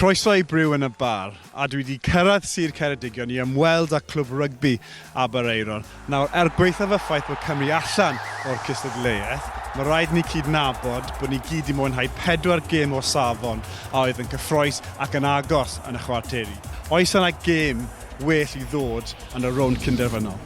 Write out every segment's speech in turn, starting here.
Croeso i Brew yn y Bar, a dwi 'di cyrraedd Sir Ceredigion i ymweld â Clwb Rygbi Aberaeron. Nawr, er gwaethaf y ffaith bod Cymru allan o'r cystadleuaeth, mae rhaid i ni cydnabod bod ni gyd 'di mwynhau pedwar gêm o safon a oedd yn gyffrous ac yn agos yn y chwarteri. Oes yna gêm well i ddod yn y rownd cynderfynol?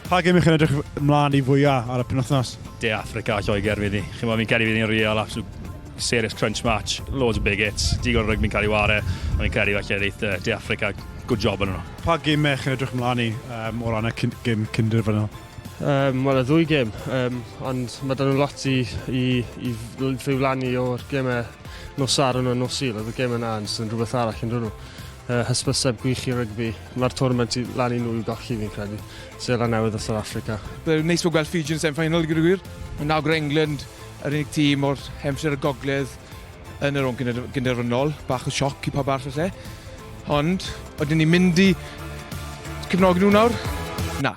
Pa gym ych chi'n edrych ymlaen i fwyaf ar y penwthnos? De Africa a Lloegr fydd ni. Chi'n meddwl, fi'n credu fydd ni'n real, absolute serious crunch match, loads of big hits, digon o rygbi'n cael ei ware, a fi'n credu falle ddeith uh, De Africa good job yn yno. Pa gym ych chi'n edrych ymlaen i um, o ran y gym cynderfynol? Um, Wel, y ddwy gêm, um, ond mae dyn nhw lot i, i, i ddiflannu o'r gemau nos ar yno nos il. Oedd y gem yna yn sy'n rhywbeth arall yn rhywun. Uh, hysbyseb gwych i rygbi. Mae'r tournament i lan i nhw i golli fi'n credu. Sela newydd o South Africa. Bydd neis bod gweld Fiji yn semifinal gyda gwir. Mae nawr England yr unig tîm o'r hemsir y gogledd yn yr o'n gynderfynol. Bach o sioc i pa barth lle. Ond, oedden ni'n mynd i cefnogi nhw nawr? Na.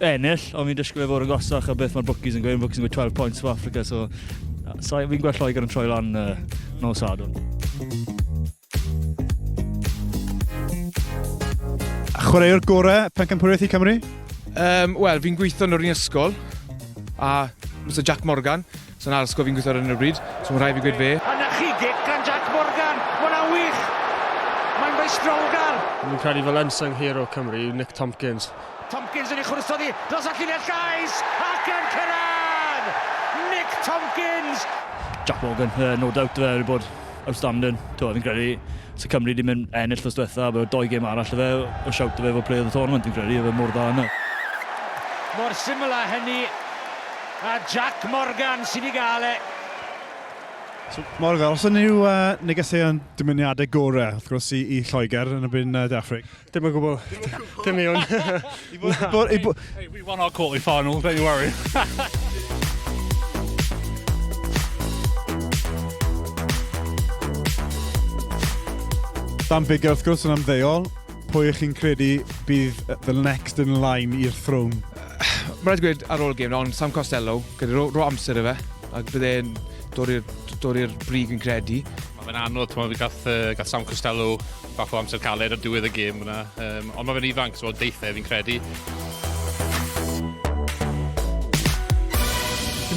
ennill, ond fi'n disgwyl i fod yn gosach a beth mae'r bookies yn gweud. Bookies yn gweud 12 points for Africa, so, so fi'n gweld Lloegr yn troi lan uh, no sadwn. Chwaraewr gorau pencampwriaeth i Cymru? Um, Wel, fi'n gweithio yn yr un ysgol, a Mr Jack Morgan, So na ysgol fi'n gweithio ar hyn o bryd, so mae'n rhaid fi gweud fe. A 'na chi gic gan Jac Morgan, ma' hwnna'n wych! Mae'n feistrolgar! Fi'n credu fel unsung hero Cymru yw Nick Tompkins. Tompkins yn ei chwrso ddi dros y llinell gais ac yn cyrraedd! Nick Tompkins! Jac Morgan, yy no doubt ife wedi bod outstanding. T'mo' fi'n credu se Cymru 'di myn' ennill wthnos dwetha a bod dou gêm arall 'da fe o' shout 'da fe fod player of the tournament fi'n credu, odd e mor dda yna. Mor syml â hynny. A Jac Morgan sydd wedi gael e. So, Morgan, os yna yw uh, negeseuon dymuniadau gorau, wrth gwrs, i, i Lloegr yn y byn uh, De Affrig? Dim o gwbl. Dim i hwn. Hey, we won our quarterly final, don't you worry. Dan Bigger, wrth gwrs, yn amddeol. Pwy ych chi'n credu bydd the next in line i'r throne? Mae'n rhaid gweud ar ôl y gêm, ond Sam Costello, gyda ro, ro amser y fe, ac bydd e'n dod i'r brig yn credu. Mae fe'n anodd, ti'n meddwl, gath, uh, gath Sam Costello bach o amser caled ar diwedd y gêm yna, um, ond mae fe'n ifanc, so deithau fi'n credu.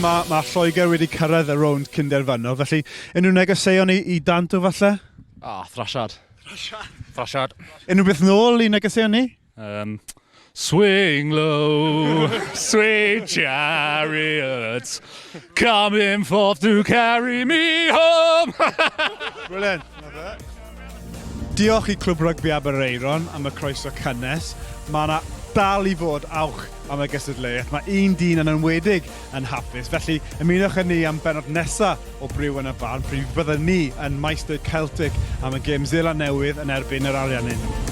mae, mae Lloegr wedi cyrraedd y rownd cynderfynol, felly unrhyw negeseuon i, i Danto falle? Ah, thrasiad. Thrasiad. Thrasiad. Unrhyw beth nôl i negeseuon ni? Um, swing low, sweet chariots, coming forth to carry me home. Brilliant. Diolch i Clwb Rygbi Aberaeron am y croeso cynnes. Mae yna dal i fod awch am y gystadleuaeth. Mae un dyn yn enwedig yn hapus, felly ymunwch â ni am bennod nesa o Briw yn y Barn pryd bydden ni yn Maesteg Celtic am y gêm Seland Newydd yn erbyn yr Ariannin.